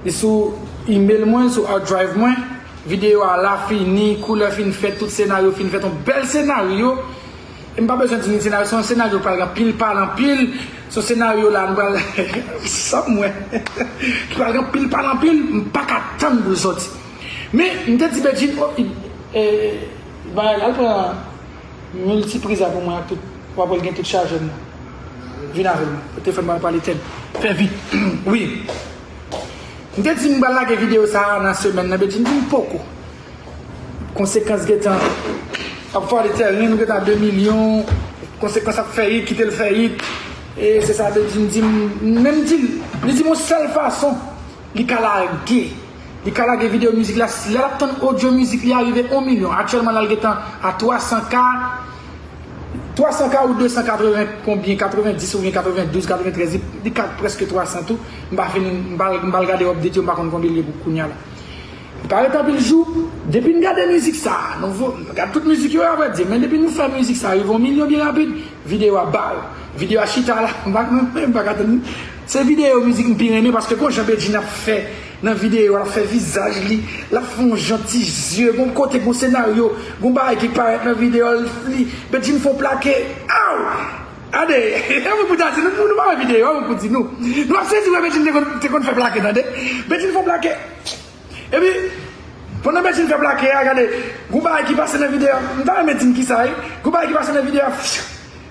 Li sou email mwen, sou hard drive mwen. Video a la fini, koulè fin fèt, tout senaryo fin fèt. Yon bèl senaryo. E m pa bezwen di nou senaryo, se yon senaryo pral gen anpil pale anpil. Se yon senaryo la nou pral sa m wè. Ki pral gen anpil pale anpil, m pa ka tann pou l sòti. Men, m te di Bedjine, oh, li, e, li bay, al pran. Mil ti priza pou mwen ak tout wap wèl gen tout chajèm nan vin avèl mwen pou te fèm bal pale tèl fè vit wi m te dim bal lage video sa nan semèn nan bedjine dim poko konsekans gentan ap vale tèren nou gentan a 2 milyon konsekans ap fè it kitel fè it e se sa bedjine dim menm dil li dim yon sèl fason li ka lage. Li ka lage video mizik la, lè lap tann audio mizik li a rive 1 milyon, aktyèlman la li gentan a 300 k, 300 k ou 280 konbyen, 90 oubyen 92, 93, li ka preske 300 tou, m pa fin, m pa al gade update yo, m pa konn konbyen li ye pou kounya la. Li pa ret anpil jou, depi n gade mizik sa, nou gad tout mizik yo a vrè di, men depi nou fè mizik sa rive 1 milyon byen rapid, video a baw, video a chita la, m pa konn, m paka tann. Se video mizik m pi renmen paske gon jan Bedjine ap fè nan video a lap fè vizaj li lap fè yon jan ti zye gon kote gon senaryo gon bagay ki parèt nan video a li Bedjine fon plake aww tande yon moun pou ta di nou pa wè video a yon moun pou di nou nou ap sezi wè Bedjine te konn fè plake tande Bedjine fon plake epi pandan Bedjine fè plake a gade gon bagay ki pase nan video a m ta renmen di n kisa wi gon bagay ki pase nan video a.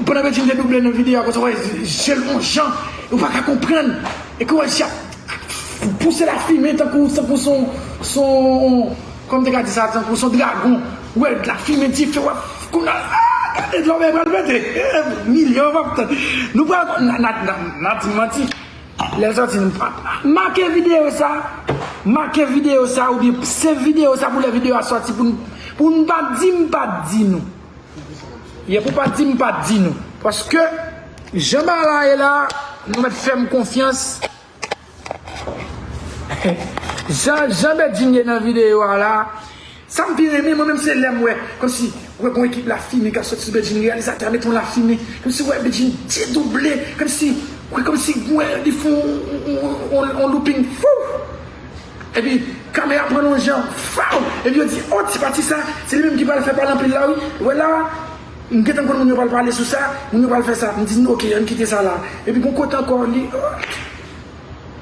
Bon apeti mte double nan video a koz wè jel on jan ou paka konprann e kou wè jel ap pouse la fimen tankou tankou son son kòm te ka di sa tankou son dragon ou wè la fimen dife wap konn aah gade lòbèy pral pete milyon map tann nou pral konn nap di manti lèl sòti nou pap make video sa make video sa oubyen save video sa pou lè video a sòti poun poun pa dim pat di nou. Ye pou pat dim pat di nou. Paske jan bagay la ye la nou met fem konfyans jan Bedjine ye nan video a la sam pi renmen mwen menm se lem we komsi we gon ekip la fime kap soti sou Bedjine reyalizatè a met yon la fime komsi we Bedjine dedouble komsi komsi we li fon yon louping fouu. Epi kame a pran yon jan faw epi yo di oh ti pati sa se li menm ki pral fè pale anpil la wi wè la m gentan konn moun yo pral pale sou sa moun yo pral fè sa m di nou ok ann kite sa la epi gon kote ankò li oh.